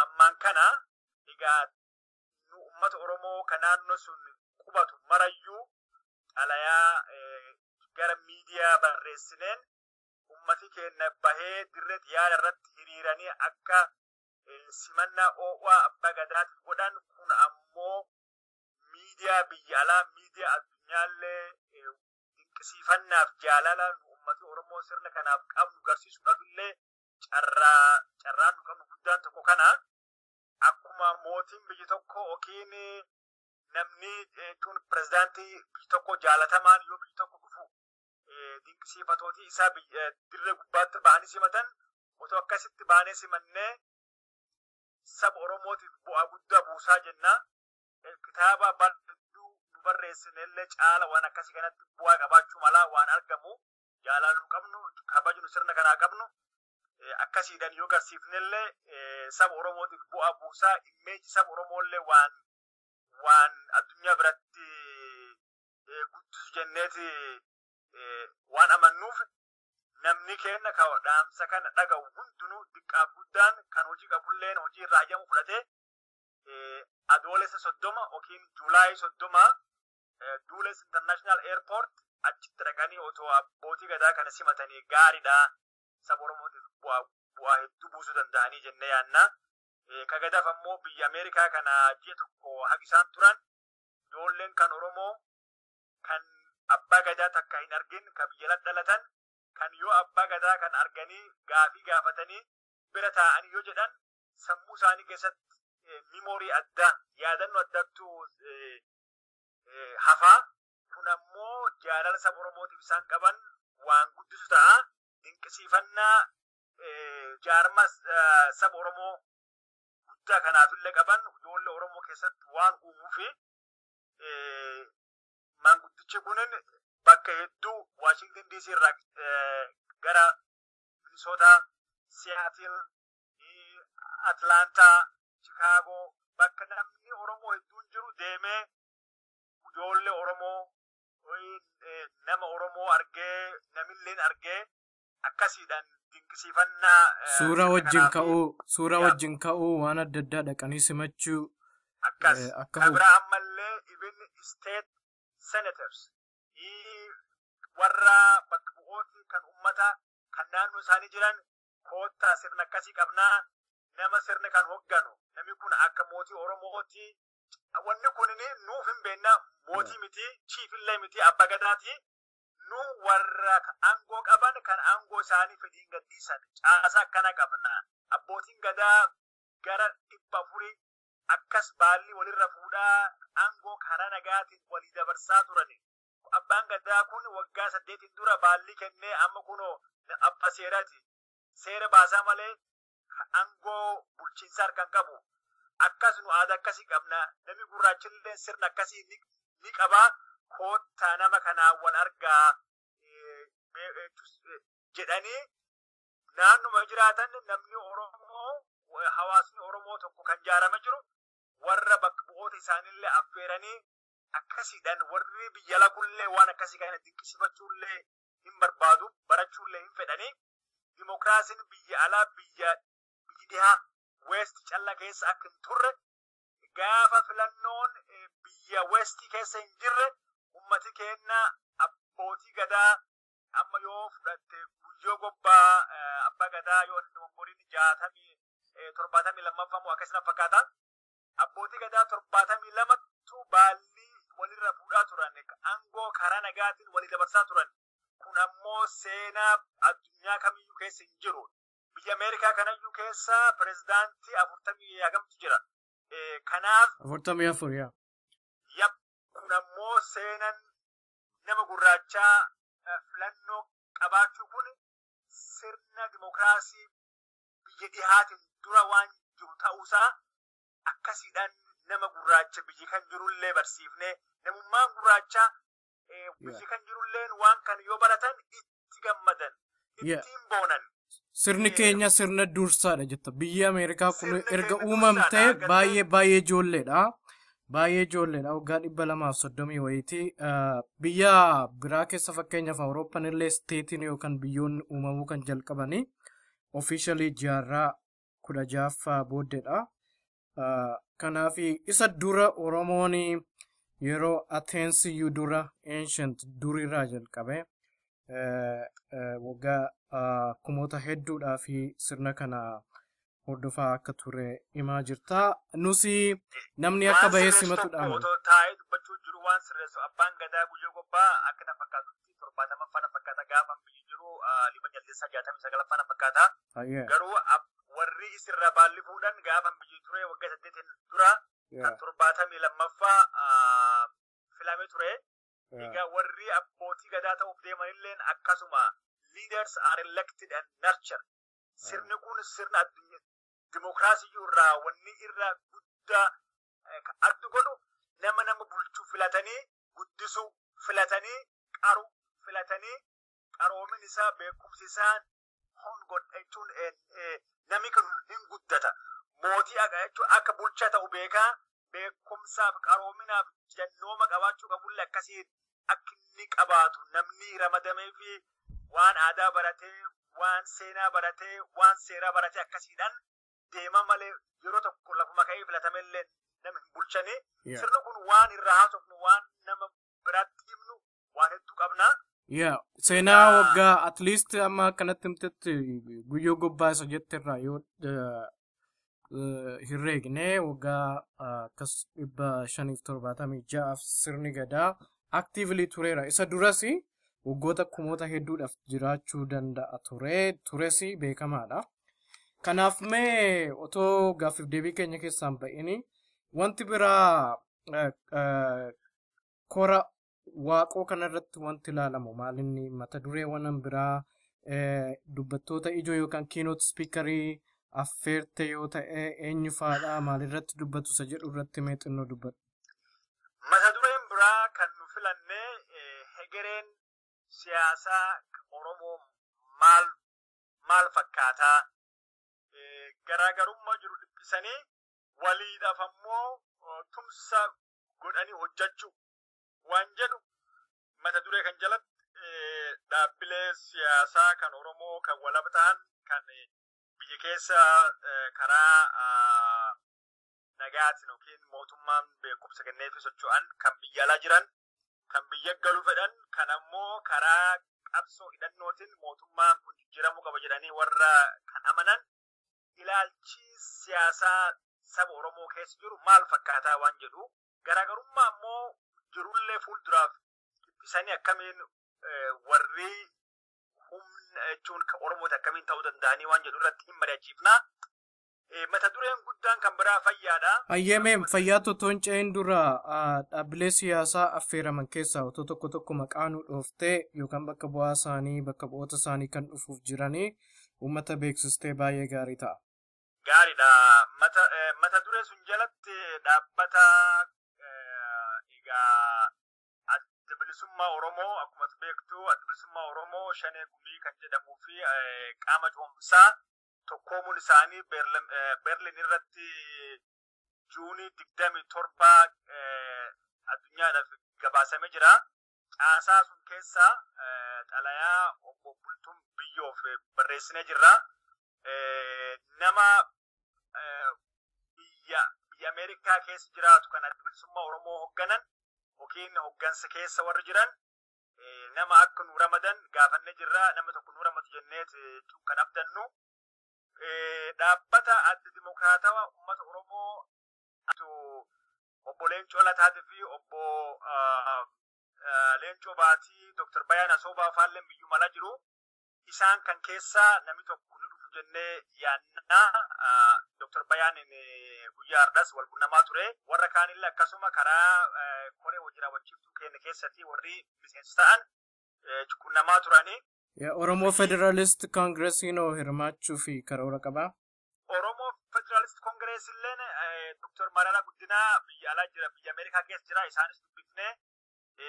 ammaan kana egaa nu uummata Oromoo ka naannoo sun qubatu marayyuu xalayaa gara miidiyaa barreessineen ummati keenya bahee dirree xiyyaara irratti hiriiranii akka simannaa oo'aa abbaa gadaatiif godhan kun ammoo miidiyaa biyya alaa miidiyaa addunyaallee dinqisiifannaaf jaalala nu ummata Oromoo sirna kanaaf qabnu garsiisuudhaaf illee carraa carraan nu qabnu guddaan tokko kana akkuma mootiin biyyi tokko yookiin namni jechuun pirezidaantii biyyi tokko jaalatamaan yoo biyyi tokko dhufu dinqisiifatootii isaa dirree gubbaatti bahanii simatan otoo akkasitti baanee simannee saba Oromootiif bu'aa guddaa buusaa jenna. kitaaba bal'duu nu barreessinellee caala waan akkasii kanatti bu'aa qabaachuu malaa waan argamu jaalaaluu qabnu kabajnu sirna kanaa qabnu akkasiidhan yoo garsiifnellee saba Oromootiif bu'aa buusaa immeeji saba Oromoollee waan waan addunyaa biratti guddisu jenneeti waan amannuuf namni keenna ka dhaamsa kana dhaga'u hundinuu diqqaaf guddaan kan hojii qabulleen hojii irraa ayyamu fudhatee Adoolessa soddoma yookiin Juulaayii soddoma Duules International Airport achitti dhaqanii otoo abbootii gadaa kana simatanii gaariidha. Saba Oromootiif bu'aa hedduu buusuu danda'anii jennee yaadna. Ka gadaaf ammoo biyya Ameerikaa kana ji'a tokko hagi isaan turan ijoolleen kan Oromoo kan abbaa gadaa takka hin argin ka biyya alatti dhalatan kan yoo abbaa gadaa kan arganii gaafii gaafatanii bira taa'anii yoo jedhan sammuu isaanii keessatti mimoorii addaa yaadannoo addaattu hafaa kun ammoo jaalala saba Oromootiif isaan qaban waan guddisu ta'a dinqisiifannaa jaarma saba Oromoo guddaa kanaaf illee qaban ijoollee Oromoo keessatti waan uumuu fi maanguddichi kunin bakka hedduu Waashington DC irraa gara Minisootaa Siyaatil Atlaantaa, Chikaagoo bakka namni Oromoo hedduun jiru deemee ijoollee Oromoo nama Oromoo argee namilleen argee akkasiidhaan dinqisiifannaa. Suura wajjin ka'uu, suura wajjin ka'uu waan adda addaa dhaqanii simachuu. Akkas. Akka Kan biraa ammallee even state senators warra bakka bu'ooti kan ummata kan naannoo isaanii jiran koottaa sirna akkasii qabnaa nama sirni kan hogganu namni kun akka mootii Oromootti wanni kun nuuf hin beekna mootii miti chiifillee miti abba gadaati nu warra aangoo qaban kan aangoo isaanii fedhiin gadhiisan caasa akkana qabna abbootiin gadaa gara dhibba afurii akkas baallii walirra fuudhaa aangoo karaa nagaatiin walii dabarsaa turani Abbaan gadaa kun waggaa saddeetiin dura baallii kennee amma kunoo abba seeraati. Seera baasaa malee aangoo bulchiinsa harkaan qabu. Akkas nu aadaa akkasii qabna. Namni gurraachillee sirna akkasii ni qaba. Koottaa nama kanaan wal argaa jedhanii naannuma jiraatan namni Oromoo hawaasni Oromoo tokko kan jaarame jiru warra bakka bu'oota isaaniillee affeeranii akkasiidhaan warri biyya lagullee waan akkasii kana dinqisiifachuullee hin barbaadu barachuullee hin fedhanii dimokiraasiin biyya alaa biyya biyyi dhihaa weesti calla keessa akka hin turre gaafa filannoon eh, biyya weesti keessa hin jirre ummati keenya abbootii gadaa amma yoo fudhatte guyyoo gobbaa eh, abbaa gadaa yoo inni umuriin jaatamii eh, torbaatamii lammaffaa moo akkasina fakkaata Abbootii gadaa torbaatamii lamattu baallii walirra fuudhaa turan, aangoo karaa nagaatiin walii dabarsaa turan. Kun ammoo seenaa addunyaa kamiyyuu keessa hin jiru. Biyya Ameerikaa kanayyuu keessa pirezidaantii afurtamii hagamtu jira. Kanaaf. Afurtamii afur yaa. Yap. Kun ammoo seenan nama gurraachaa filannoo qabaachuu kun sirna dimokiraasii biyya dhihaatiin dura waan jiru ta'uusaa akkasiidhaan nama gurraacha biyya kan jirullee barsiifnee namummaan gurraachaa eh, biyya kan jirulleen waan kan yoo baratan itti gammadan Yeah. ittiin boonan Sirni keenya sirna dursaadha jetta. Biyyi Ameerikaa kun Sirni erga keenya uumamtee dursaadha, gartee- baay'ee baay'ee ijoolleedha. Baay'ee ijoolleedha. Waggaa dhibba lamaaf soddomii wayiitii ah, biyya biraa keessa fakkeenyaaf Awurooppaan illee isteetiin yookaan biyyoonni uumamuu kan jalqabanii officially jaarraa kudha jaaffaa booddedha. Ah, Kanaaf isa dura Oromoon yeroo Ateensiyyuu dura ancient durirraa jalqabe eh, eh, waggaa ah, kumoota hedduudhaa fi sirna kana hordofaa akka ture himaa jirta. Nusi namni akka waan bahee sirreessu tokko simatudha. otoo taa'ee dubbachuu jiru waan sirreessu abbaan gadaa guyyoo gobbaa akka na fakkaatutti jalatti torbaatamaffaa na fakkaata gaafa biyyi jiru dhibba jaldeessaa jaatamii sagalaffaa na fakkaata. Garuu warri isirra baalli fuudhan gaafa biyyi ture waggaa saddeetiin dura kan torbaatamii lammaffaa filame ture. Egaa warri abbootii gadaa ta'uuf deemanilleen akkasuma leaders are elected and nurtured. Sirni kun sirna dimookiraasii irraa wanni irra guddaa adda godhu nama nama bulchu filatanii guddisuu filatanii qaru filatanii qaroomin isaa beekumsi isaa kun godha jechuun namni kun hin guddata. Mootii haqa jechuun akka bulchaa ta'u beekaa beekumsaaf qaroominaaf jannooma qabaachuu qabullee akkasii akka inni qabaatu namni ramadamee fi waan aadaa baratee waan seenaa baratee waan seeraa baratee akkasiidhaan deema malee yeroo tokko lafuma ka'ee filatame illee nama hin bulchane. Yeah. Sirna kun waan irraa haasofnu waan nama biraatti himnu waan hedduu qabna. Yeah. Seenaa Yaa. waggaa at least amma akkanatti himtetti guyyoo gobbaa isa jette irraa yoo eh, eh, hin reegne waggaa ah, akkas dhibba shaniif torbaatamii ja'aaf sirni gadaa actively tureera. Isa durasi waggoota kumoota hedduudhaaf jiraachuu danda'a ture tures beekamaadha. Kanaaf mee otoo gaaffiif deebii keenya keessaan ba'ini wanti biraa eh, eh, kora waaqoo kanarratti wanti ilaalamu maalinni mata dureewwan biraa eh, dubbattoota ijoo yookaan kiinoot spiikarii affeerte yoo ta'e eenyu faadha maalirratti dubbatu isa jedhu irratti mee xinnoo dubba- Mata dureen biraa kan nu filanne hegereen siyaasaa Oromoo maal maal fakkaataa garaagarummaa jiru dhiphisanii waliidhaaf ammoo tumsa godhanii hojjechuu waan jedhu mata duree kan jalatti dhaabbilee siyaasaa kan Oromoo kan walaba ta'an kan biyya keessa karaa nagayaatiin yookiin mootummaan beekumsa kenneefi socho'an kan biyya alaa jiran kan biyya galuu fedhan kan ammoo karaa qabsoo hidhannootiin mootummaan kun jijjiiramuu qaba jedhanii warra kan amanan ilaalchi siyaasaa saba Oromoo keessa jiru maal fakkaataa waan jedhu garaagarummaa ammoo jirullee fuulduraaf dhiphisanii akkamiin warri humna jechuun kan Oromooti akkamiin ta'uu danda'anii waan jedhu irratti hin mari'achiifna. Eh, Mata dureen guddaan kan biraa fayyaadha. Ayyeemeem fayyaa totoon ce'een dura ah, dhaabbilee siyaasaa affeeraman keessaa otoo tokko tokko maqaa nu dhooftee yookaan bakka bu'aa isaanii bakka bu'oota isaanii kan dhufuuf jiranii uummata beeksistee baay'ee gaarii ta'a. Gaariidha. Mata, eh, mata duree sun jalatti dhaabbata eh, egaa adda bilisummaa Oromoo akkuma ati beektu adda bilisummaa Oromoo shanee gumii kan jedhamuu fi eh, qaama cehumsaa tokkoomuun isaanii Berlin irratti Juunii 27 addunyaadhaaf gabaasamee jira. Caasaa sun keessa xalayaa obbo Bultum biyyoof barreessinee jirra. Nama biyya biyya Ameerikaa keessa jiraatu kan adda bilisummaa Oromoo hogganan yookiin hoggansa keessa warri jiran nama akka nu ramadan gaafannee jirra nama tokko nu ramadu jennee kan abdannu dhaabbata adda dimokiraatawa uummata oromoo obbo Leencoo Lataatii fi obbo Leencoo Baatii Dr. Bayaan Asoobaa faalleen biyyuu mala jiru. isaan kan keessaa namni tokko ni dhufu jennee yaadna. Dr. Bayaaniin guyyaa har'as wal qunnamaa ture. Warra kaanillee akkasuma karaa koree hojii raawwachiiftuu keenya keessatti warri miseensa ta'an qunnamaa turani. Oromoo Federalist Koongiresiin hoo hirmaachuu fi karoora qabaa? Oromoo Federalist Koongirees illeen Dr. Mararaa Guddinaa biyya alaa jira, biyya Ameerikaa keessa jira. Isaanis dubbifnee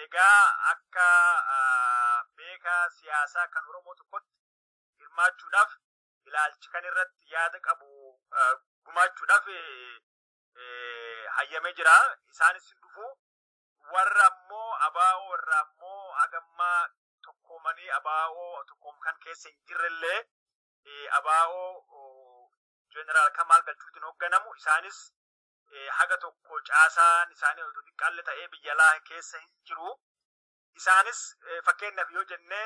Egaa akka beeka siyaasaa kan Oromoo tokkotti hirmaachuudhaaf ilaalchi kan irratti yaada qabu gumaachuudhaaf hayyamee jira. Isaanis hin dhufu. Warra ammoo abaa'oo irraa ammoo hagammaa tokkoomanii abaa'oo tokkoom kan keessa hin jirrellee abaa'oo jeneraal Kamaal Galchuutiin hoogganamu isaanis haga tokko caasaan isaanii otoo xiqqaalle ta'ee biyya alaa keessa hin jiru. Isaanis fakkeenyaaf yoo jenne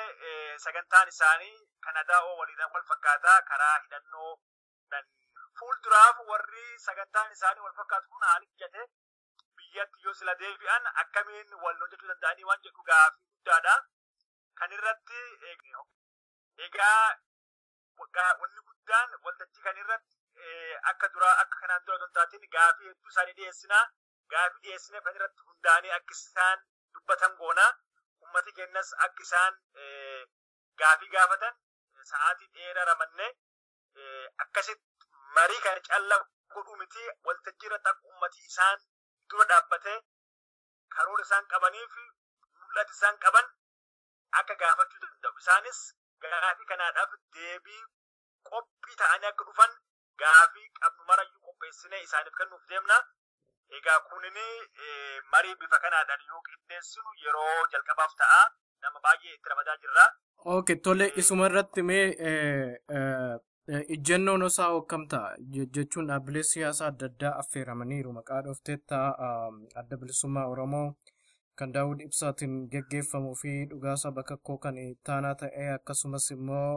sagantaan isaanii Kanadaa oo waliidhaan wal fakkaata karaa hidhannoo fuulduraaf warri sagantaan isaanii wal fakkaatu kun haala mijate biyyatti yoo sila deebi'an akkamiin wal hojjechuu danda'anii waan jedhu gaaffii guddaadha. Kan irratti egaa wanni guddaan waltajjii kan irratti akka duraa akka kanaan dura osoo hin taatiin gaafii hedduu isaanii dhiyeessina. Gaafii dhiyeessine kan irratti hundaa'anii akka isaan dubbatan goona. Uummati keenyas akka isaan gaafii gaafatan sa'aatii dheeraa ramanne akkasitti marii kana calla godhuu miti waltajjii irratti akka uummati isaan dura dhaabbatee karoora isaan qabanii fi mul'ata isaan qaban akka gaafachuu danda'u. Isaanis gaafii kanaadhaaf deebii qophii ta'anii akka dhufan gaafii qabnu marayyuu qopheessinee isaaniif kennuuf deemna. Egaa kunin marii bifa kanaadhaan yoo qindeessinu yeroo jalqabaaf ta'a. Nama baay'ee itti ramadaa jirra. Ok, tole isuma irratti mee Ijjannoon osaa hokkam ta'a jechuun dhaabbilee siyaasaa adda addaa affeeramaniiru maqaa dhoofteetta adda bilisummaa Oromoo kan Daawud Ibsaatiin geggeeffamuu fi dhugaasaa bakakkoo kan ittaanaa ta'ee akkasumas immoo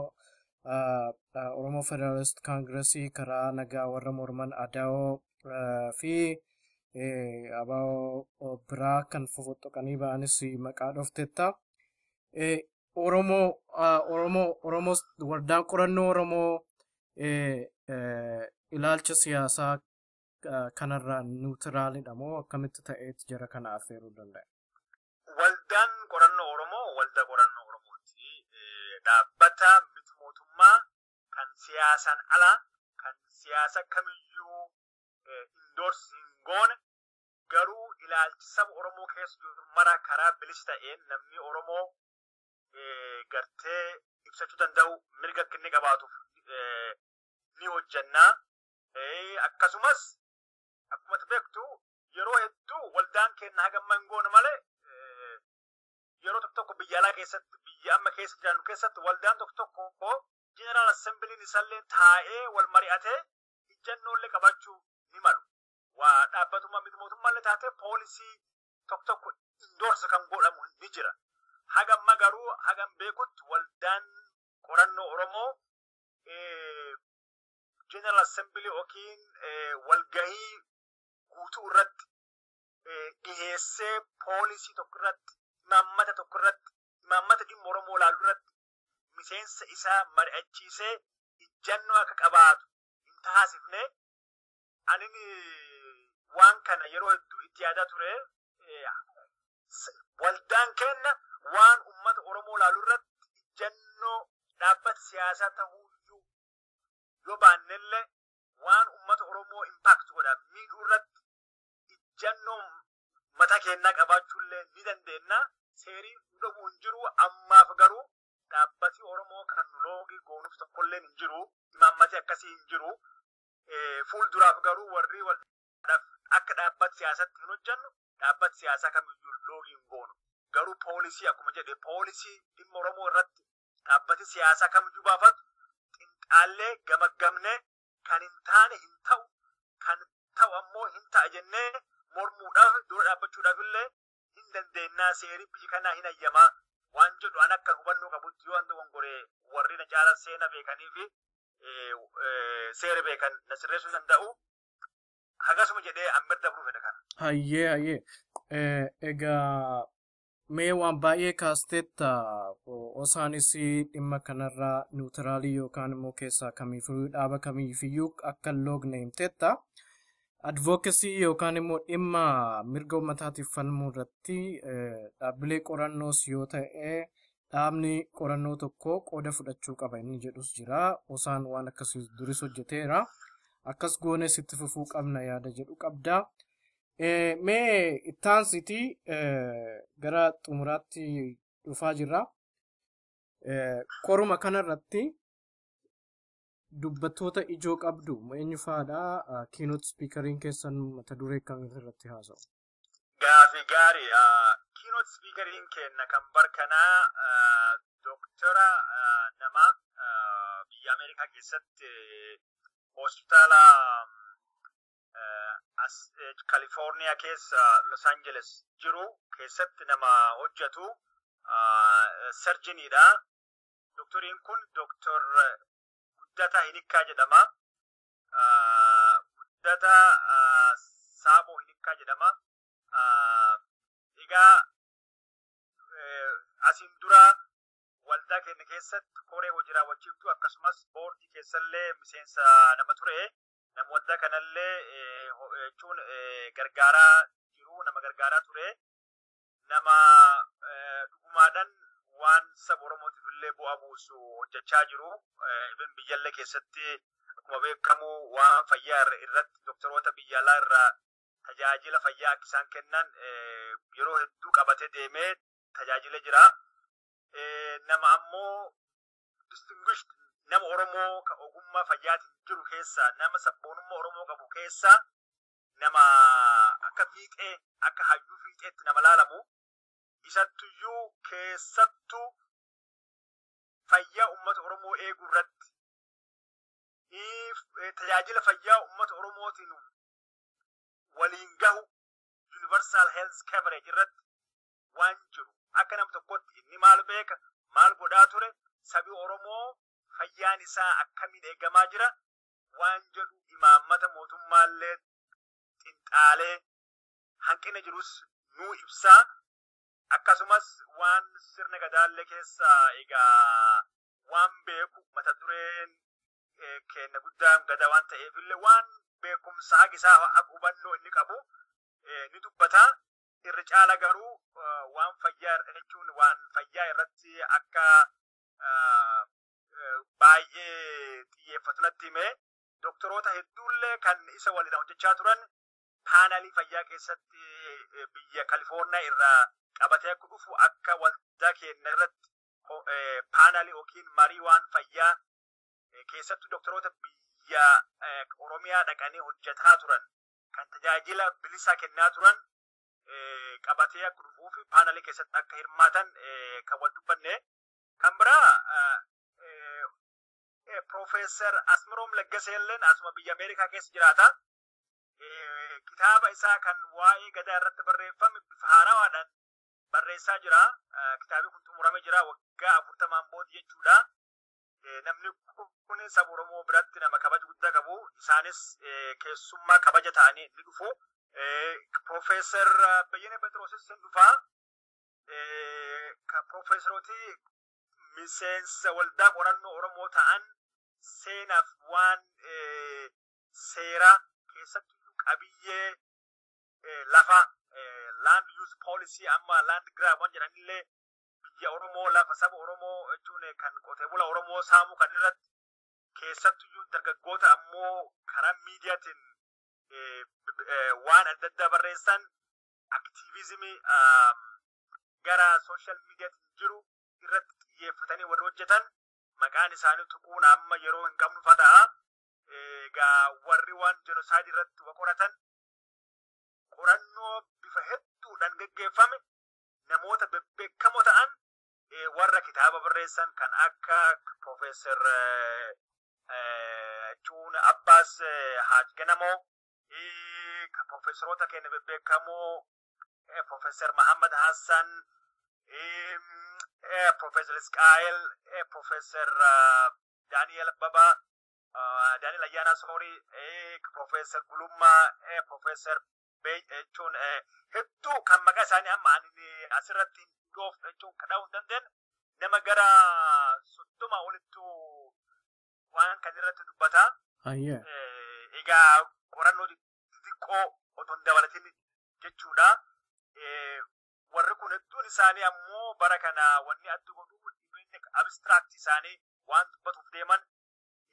Oromoo Federaalist Kaangiresii karaa nagaa warra morman Adaawoo fi abaawoo biraa kan fofoxxoqanii ba'anis maqaa dhoofteetta. Oromoo Oromoo Oromoo waldaan qorannoo Oromoo ilaalcha siyaasaa kanarraa niwutiraalidha moo akkamitti ta'eetti jara kana affeeruu danda'a? Waldaan qorannoo Oromoo waldaa qorannoo Oromooti. Dhaabbata miti mootummaa kan siyaasaan ala kan siyaasa kamiyyuu indoors hin goone garuu ilaalchi saba Oromoo keessa jiru mara karaa bilisa ta'een namni Oromoo gartee ibsachuu danda'u mirga akka inni qabaatuuf ni hojjannaa. Akkasumas akkuma beektu yeroo hedduu waldaan keenya haga amma hin goone malee yeroo tokko tokko biyya alaa keessatti biyya amma keessa jiraannu keessatti waldaan tokko tokko jeneraal assembiliin isallee taa'ee wal mari'atee ijjannoollee qabachuu ni malu. waa dhaabbatummaa miti mootummaallee taatee poolisii tokko tokko indoorsi kan godhamu ni jira. Haga amma garuu hagan beekutti waldaan qorannoo Oromoo General Assembly yookiin walgahii guutuu irratti dhiheessee poolisii tokko irratti imaammata tokko irratti imaammata dhimma Oromoo ilaalu irratti miseensa isaa mari'achiisee ijjannoo akka qabaatu hin taasifne Anin waan kana yeroo hedduu itti yaadaa ture. Waldaan keenya waan uummata Oromoo ilaalu irratti ijjannoo dhaabbata siyaasaa ta'uu iyyuu yoo baannellee waan uummata Oromoo impact godha miidhuu irratti ijjannoo mataa keenyaa qabaachuullee ni dandeenya. Seerii nu dhabuu hin jiru ammaaf garuu dhaabbati Oromoo kan nu loogii goonuuf tokkolleen hin jiru. Imaammatee akkasii hin jiru. Fuul duraaf garuu warri waldhaaf akka dhaabbat siyaasatti hin hojjannu dhaabbat siyaasaa kamiyyuu loogii hin goonu. Garuu poolisii akkuma jedhe poolisii dhimma Oromoo irratti dhaabbati siyaasaa kamiyyuu baafatu xinxaallee gamaggamnee kan hin taane hin ta'u kan ta'u ammoo hin ta'a jennee mormuudhaaf dura dhaabbachuudhaaf illee hin dandeennaa seeri biyyi kanaa hin hayyamaa waan jedhu an akkan hubannoo qabutti yoo an dogongoree warri na caalan seena beekanii fi seera beekan na sirreessuu danda'u hagasuma jedhee an bira dabruu fedha kana. Hayyee hayyee egaa mee waan baay'ee kaasteetta osaanis dhimma kanarraa niwutiraalii yookaan immoo keessaa kamiifiyyuu dhaaba kamiifiyyuu akka hin loogne himteetta. advocacy yookaan immoo dhimma mirga uummataatiif falmuu irratti dhaabbilee qorannoos yoo ta'e dhaabni qorannoo tokko qooda fudhachuu qaba inni jedhus jira. Osaan waan akkasii duris hojjeteera. Akkas goones itti fufuu qabna yaada jedhu qabda. Mee ittaansitii gara xumuraatti dhufaa jirra. Qoruma kanarratti dubbattoota ijoo qabdu eenyu fa'aadha? Keynote speakeriin keessan mata duree akkamii irratti haasa'u? Gaafi gaari. Keynote speakeriin keenna kan bar kanaa doktora nama biyya Ameerikaa keessatti hospitaala Kalifoorniyaa keessa Los Angeles jiru keessatti nama hojjetu sarjiniidha. Doktoriin kun Doktor Guddataa Hinikkaa jedhama. Guddataa Saaboo Hinikkaa jedhama. Egaa asiin dura waldaa keenya keessatti koree hojii raawwachiiftuu akkasumas boordii keessallee miseensa nama ture. Nama waldaa kanallee jechuun gargaaraa jiru nama gargaaraa ture. nama dhugumaadhan waan saba Oromootiif illee bu'aa buusu hojjechaa jiru. Even biyyallee keessatti akkuma beekamu waan fayyaa irratti doktaroota biyya alaa irraa tajaajila fayyaa akka isaan kennan yeroo hedduu qabatee deemee tajaajilee jira. Nama ammoo distinguished nama Oromoo ka ogummaa fayyaatiin jiru keessaa nama sabboonummaa Oromoo qabu keessaa nama akka fiixee akka hayyuu fiixeetti nama laalamu isattuyyuu keessattu fayyaa ummata Oromoo eeguu irratti tajaajila fayyaa ummata Oromootiin waliin gahu universal health coverage irratti waan jiru akka nam tokkotti inni maal beeka maal godhaa ture sabi Oromoo fayyaan isaa akkamiin eegamaa jira waan jedhu imaammata mootummaallee xinxaalee hanqina jirus nuu ibsaa akkasumas waan sirna gadaallee keessa egaa waan beeku mata dureen eh, keenna guddaan gada waan ta'eefillee waan beekumsa hagisaa hag hubannoo inni qabu eh, ni dubbata irra caala garuu eh, waan fayyaa irra jechuun waan fayyaa irratti akka ah, baay'ee xiyyeeffatu natti hime. Doktoroota hedduullee kan isa waliin hojjechaa turan paanalii fayyaa keessatti biyya Kalifoorniyaa irraa qabatee akka dhufu akka waldaa keenya irratti paanalii yookiin marii waan fayyaa keessattuu doktoroota biyya Oromiyaa dhaqanii hojjetaa turan kan tajaajila bilisaa kennaa turan qabatee akka dhufuu fi paanalii keessatti akka hirmaatan kan wal dubbanne Kan biraa Profeesar Asmiroom Laggaseelleen asuma biyya Ameerikaa keessa jiraata. Kitaaba isaa kan waa'ee gadaa irratti barreeffame bifa haarawaadhaan barreessaa jira. Kitaabni kun xumuramee jira waggaa afurtamaan booda jechuudha. Namni kun saba Oromoo biratti nama kabaja guddaa qabu. Isaanis keessummaa kabaja ta'anii ni dhufu. Profeesar Bayyana Phexroosis hin dhufa. kan piroofeesarooti miseensa waldaa qorannoo Oromoo ta'an seenaaf waan seeraa keessatti qabiyyee lafa land use policy amma land grab waan jedhanillee biyya Oromoo lafa saba Oromoo jechuun kan qotee bula Oromoo saamuu kan irratti keessattuyyuu dargaggoota ammoo karaa miidiyaatiin waan adda addaa barreessan aktiivizimii gara sooshaal miidiyaatiin jiru irratti xiyyeeffatanii warri hojjetan maqaan isaanii tuquun amma yeroo hin qabnu fata'a. Egaa warri waan jenosaayidii irratti wa qoratan qorannoo bifa hedduudhaan geggeeffame namoota bebbeekamoo ta'an warra kitaaba barreessan kan akka Profeesar Cuun Abbaas Haaj Ganamoo Profeesaroota keenya bebbeekamoo Profeesar Mahammad Hassan, Profeesar Isqaa'el, Profeesar Daani'el Abbabaa, Daani'el Ayyaanaa Soorii, Profeesar Gulummaa, Profeesar jechuun hedduu kan maqaa isaanii amma ani asirratti hin dhoofne jechuun kadhuu hin dandeenye nama gara soddoma olittuu waan kan irratti dubbata. Ayyee. Eh, Egaa qorannoo xixiqqoo otoo hin dabalatin jechuudha. Eh, Warri kun hedduun isaanii ammoo bara kana wanni adda godhu dhibeenya abstract isaanii waan dubbatuuf deeman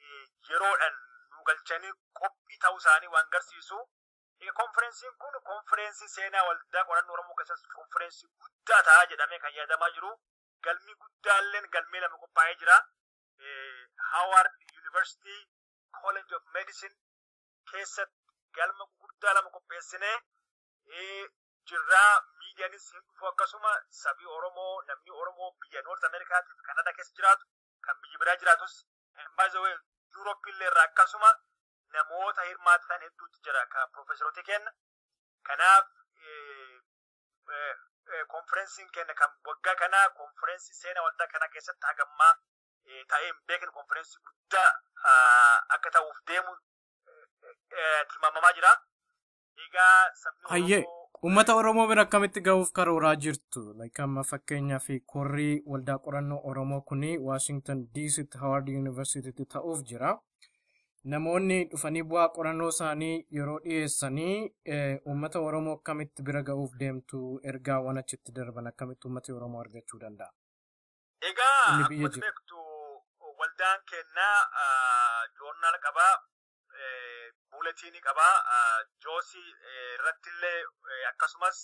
eh, yeroodhaan nu galchanii qophii ta'uu isaanii waan garsiisu. Egaa konferensiin kun konferensii seenaa waldaa qorannoo Oromoo keessatti konferensii guddaa ta'a jedhamee kan yaadamaa jiru. Galmi guddaalleen galmee lama qophaa'ee jira. Haawaard Yuunivarsiitii College of Medicine keessatti galma gurguddaa lama qopheessinee jirraa miidiyaanis hin dhufu akkasuma sabii Oromoo namni Oromoo biyya Noort Ameerikaatiif Kanadaa keessa jiraatu kan biyya biraa jiraatus baay'ee Yuurooppii illee irraa akkasuma namoota hirmaatan hedduutu jira kan piroofeesaroota kenna. Kanaaf konferensiin keenya kan waggaa kanaa konferensii seena waldaa kanaa keessatti hagammaa ta'ee hin beekne konferensii guddaa akka ta'uuf deemu tilmaamamaa jira. Egaa sabni Hayyee uummata Oromoo bira akkamitti gahuuf karooraa jirtu? Like amma fakkeenyaa fi korrii waldaa qorannoo Oromoo kuni Washington DCtti Howard Universitytti ta'uuf jira. namoonni dhufanii bu'aa qorannoo isaanii yeroo dhiyeessanii uummata Oromoo akkamitti bira ga'uuf deemtu ergaawwan achitti darban akkamitti uummati Oromoo argachuu danda'a? Egaa Inni biyya akkuma jiru. beektu waldaan keenya joornaal qaba, buuletiinii qaba, joosii irratti illee akkasumas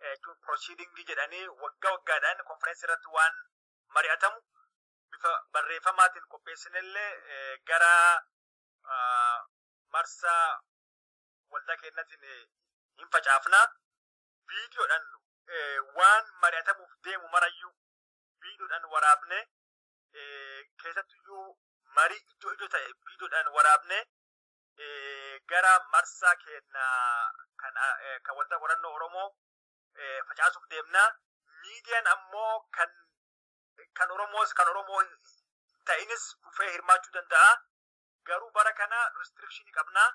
jechuun proceedingii jedhanii waggaa waggaadhaan konferensii irratti waan mari'atamu bifa barreeffamaatiin qopheessinellee gara marsaa waldaa keenyatiin hin facaafna. Viidiyoodhaan waan mari'atamuuf deemu marayyuu viidiyoodhaan waraabne keessattuyyuu marii iddoo iddoo ta'e viidiyoodhaan waraabne gara marsaa keenya kan waldaa qorannoo Oromoo facaasuuf deemna. Miidiyaan ammoo kan kan Oromoos kan Oromoo hin ta'inis dhufee hirmaachuu danda'a. Garuu bara kana restriction qabna.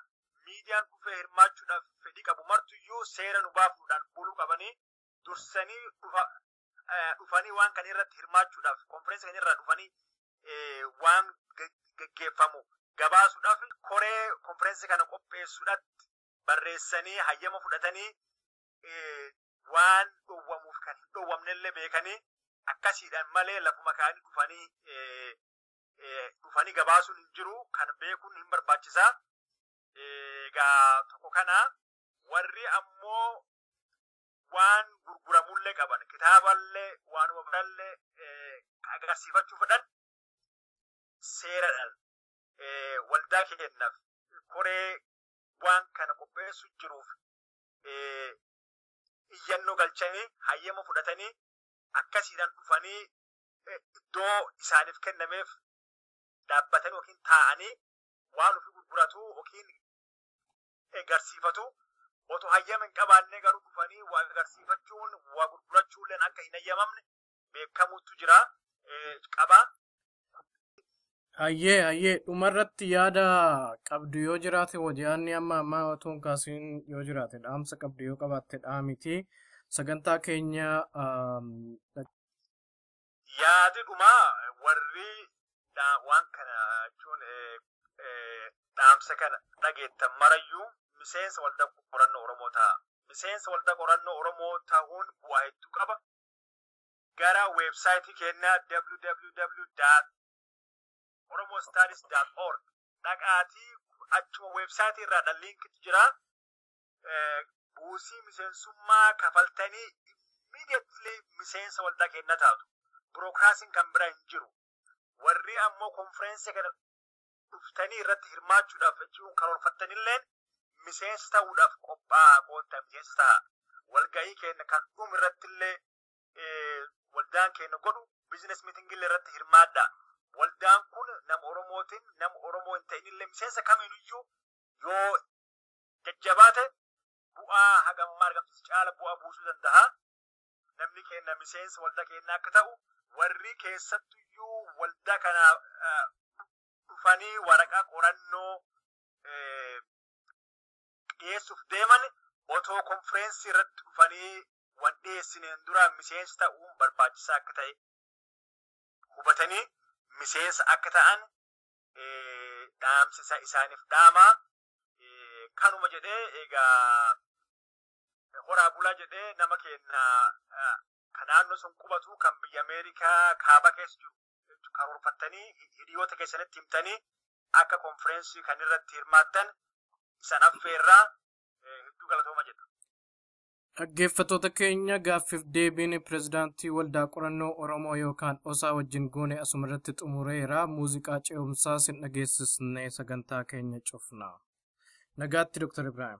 Miidiyaan dhufee hirmaachuudhaaf fedhii qabu martuyyuu seera nu baafuudhaan buluu qabanii dursanii dhufa eh, dhufanii waan kan irratti hirmaachuudhaaf konferensi kan irraa dhufanii eh, waan ge- geggeeffamu gabaasuudhaaf koree konferensi kana qopheessuudhaatti barreessanii hayyama fudhatanii eh, waan dhowwamuuf kan hin dhowwamnellee beekanii akkasiidhaan malee lafuma kaanii dhufanii eh, eh, dhufanii gabaasuun hin jiru kan beekuun hin barbaachisa. Eh, Egaa tokko kana warri ammoo waan gurguramullee qaban kitaaballee waanuma birallee eh, agarsiifachuu fedhan seeradhaan eh, waldaa keenyaaf koree waan kana qopheessu jiruuf eh, iyyannoo galchanii hayyama fudhatanii akkasiidhaan dhufanii eh, iddoo isaaniif kennameef dhaabbatanii yookiin taa'anii waan ofii gurguratu yookiin agarsiifatu otoo hayyama hin qabaanne garuu dhufanii waa agarsiifachuun waa gurgurachuulleen akka hin hayyamamne beekamutu jira qaba. Hayyee hayyee dhumarratti yaada qabdu yoo jiraate hoji'aanni amma ammaa otoo hin kaasiin yoo jiraate dhaamsa qabdu yoo qabaatte dhaamiti sagantaa keenya Yaadi dhumaa warri dhaa- waan kana jechuun eh, eh, dhaamsa kana dhageettan marayyuu miseensa waldaa qorannoo Oromoo ta'a. Miseensa waldaa qorannoo Oromoo ta'uun bu'aa hedduu qaba. gara website kennaa www.oromostadis.org dhaqaatii achuma website irraa dha link jira buusii miseensummaa kafaltanii immediately miseensa waldaa kennaa taatu. Burokraasiin kan bira hin jiru. Warri ammoo konferensii kana dhuftanii irratti hirmaachuudhaaf jechuun karoorfattanilleen miseensa ta'uudhaaf qophaa'aa koottaa miseensa ta'a. Walga'ii keenya kan dhumu irrattillee waldaan keenya godhu biizines miitingillee irratti hirmaadha. Waldaan kun nama Oromootiin nama Oromoo hin ta'inillee miseensa kamiiniyyuu yoo jajjabaate bu'aa hagammaa argamsiisu caala bu'aa buusuu danda'a. namni keenna miseensa waldaa keenna akka ta'u warri keessattuyyuu waldaa kana eh, dhufanii waraqaa qorannoo eh, dhiyeessuuf deeman otoo konfireensii irratti dhufanii waan dhiyeessineen dura miseensa ta'uun barbaachisaa akka ta'e hubatanii miseensa akka ta'an eh, dhaamsisa isaaniif dhaama. Eh, Kanuma jedhee egaa horaa bulaa jedhee nama keenya kan naannoo sun qubatu kan biyya Ameerikaa kaaba keessa jiru jechuun karoorfattanii hiriyoota keessanitti himtanii akka konfireensii kan irratti hirmaattan isan affeerraa hedduu galatooma jedha. Dhaggeeffattoota keenya gaaffiif deebiin pirezidaantii waldaa qorannoo Oromoo yookaan osaa wajjin goone asumarratti xumureera muuziqaa ce'umsaa sin dhageessisnee sagantaa keenya cufna. Nagaatti Dr. Ibrahim.